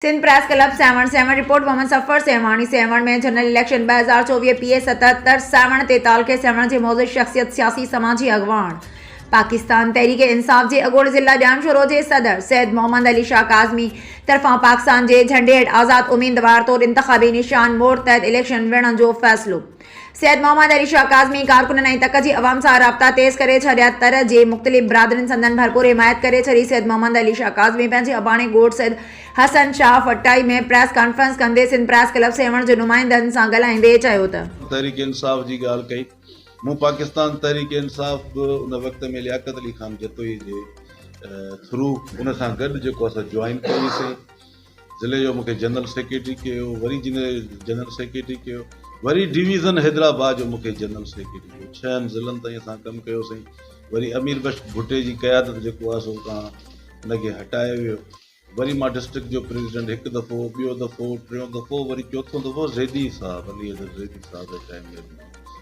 Sindh press club Sehwan Sehwan report Muhammad Safar Sehwani Sehwan ۾ general election ٻه هزار چوويهه پي اي ستهتر سيوهڻ تي تعلقي سيوهڻ جي معزز شخصيت سياسي سماجي اڳواڻ پاڪستان تحريڪ انصاف جي اڳوڻي ضلع ڄام شورو جي صدر سيد محمد علي شاهه ڪاظمي طرفان پاڪستان جي جهنڊي هيٺ آزاد اميدوار طور انتخابي نشان مور تحت اليڪشن وڙهڻ جو فيصلو سيد محمد علي شاهه ڪاظمي ڪارڪنن ۽ تڪ جي عوام سان رابطا تيز ڪري ڇڏيا. تر جي مختلف برادرين سندن ڀرپور حمايت ڪري ڇڏي. سيد محمد علي شاهه ڪاظمي پنهنجي اباڻي ڳوٺ سيد حسن شاهه فٽائي ۾ پريس ڪانفرنس ڪندي سنڌ پريس ڪلب سيوهڻ جي نمائندن سان ڳالهائيندي چيو ته. تحريڪ انصاف جي ڳالهه ڪئي. مون پاڪستان تحريڪ انصاف به ان وقت ۾ لياقت علي خان جتوئي جي ٿرو ان سان گڏ جيڪو اسان جوائن ڪيو هئي سين. ضلعي جو مون کي جنرل سيڪريٽري ڪيو، وري ضلعي جو جنرل سيڪريٽري ڪيو، وري ڊويزن حيدرآباد جو مون کي جنرل سيڪريٽري ڪيو، ڇهن ضلعن تائين اسان ڪم ڪيو سائين، وري امير بخش ڀٽي جي قيادت جيڪو آهي سو اتان ان کي هٽايو ويو، وري مان ڊسٽرڪٽ جو پريزيڊنٽ هڪ دفعو، ٻيو دفعو، ٽيون دفعو، وري چوٿون دفعو زيدي صاحب علي حيدر زيدي صاحب جي ٽائيم ۾ به مان هوس.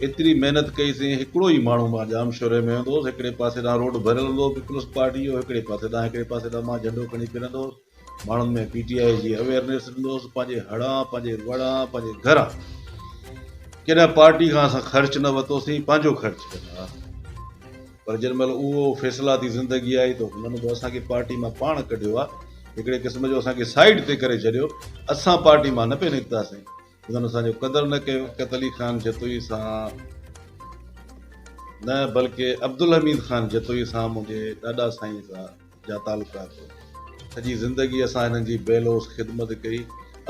ايتري محنت ڪئي سين هڪڙو ئي ماڻهو مان ڄام شوري ۾ ويندو هوس هڪڙي پاسي ڏانهن روڊ ڀريل هوندو هو پيپلز پارٽي جو هڪڙي پاسي ڏانهن هڪڙي پاسي ڏانهن مان جهنڊو کڻي ڦرندو هوس ماڻهن ۾ پي ٽي آء جي اويئرنيس ڏيندو هوس پنهنجي هڙان پنهنجي وڙان پنهنجي گهران ڪڏهن پارٽي کان اسان خرچ نه وتو سين پنهنجو خرچ ڪندا هئا پر جن مهل اهو فيصلاتي زندگي آئي ته هنن به اسان کي پارٽي مان پاڻ ڪڍيو آ هڪڙي قسم جو اسان کي سائيڊ تي ڪري ڇڏيو اسان پارٽي مان نه پئي نڪتاسين انهن اسان جو قدر نه ڪيو. شوڪت علي خان جتوئي سان نه بلڪه عبدالحميد خان جتوئي سان منهنجي ڏاڏا سائين سان جا تعلقات هئا. سڄي زندگي اسان هنن جي بي لوث خدمت ڪئي.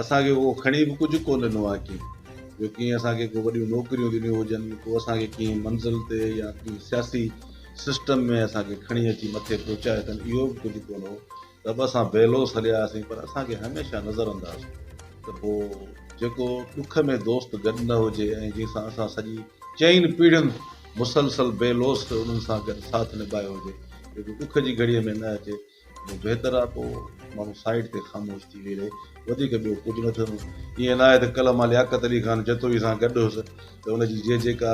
اسان کي ڪو کڻي به ڪجهه ڪونه ڏنو آهي ڪنهن. جو ڪنهن اسان کي ڪو وڏيون نوڪريون ڏنيون هجن، ڪو اسان کي ڪنهن منزل تي يا ڪنهن سياسي سسٽم ۾ اسان کي کڻي اچي مٿي پهچايو اٿن اهو به ڪجهه ڪونه هو. ته به اسان بي لوث هليا آياسين پر اسان کي هميشه نظر انداز ته هو جيڪو ڏک ۾ دوست گڏ نه هجي ۽ جنهن سان اسان سڄي چئن پيڙهين مسلسل بي لوث انهن سان گڏ ساٿ نڀايو هجي جيڪو ڏک جي گهڙيء ۾ نه اچي ته پوء بهتر آهي پوء ماڻهو سائيڊ تي خاموش ٿي ويهي رهي وڌيڪ ٻيو ڪجهه نه ٿيندو ائين ناهي ته ڪلهه مان لياقت علي خان جتوئي سان گڏ هوس ته ان جي جي جي ڪار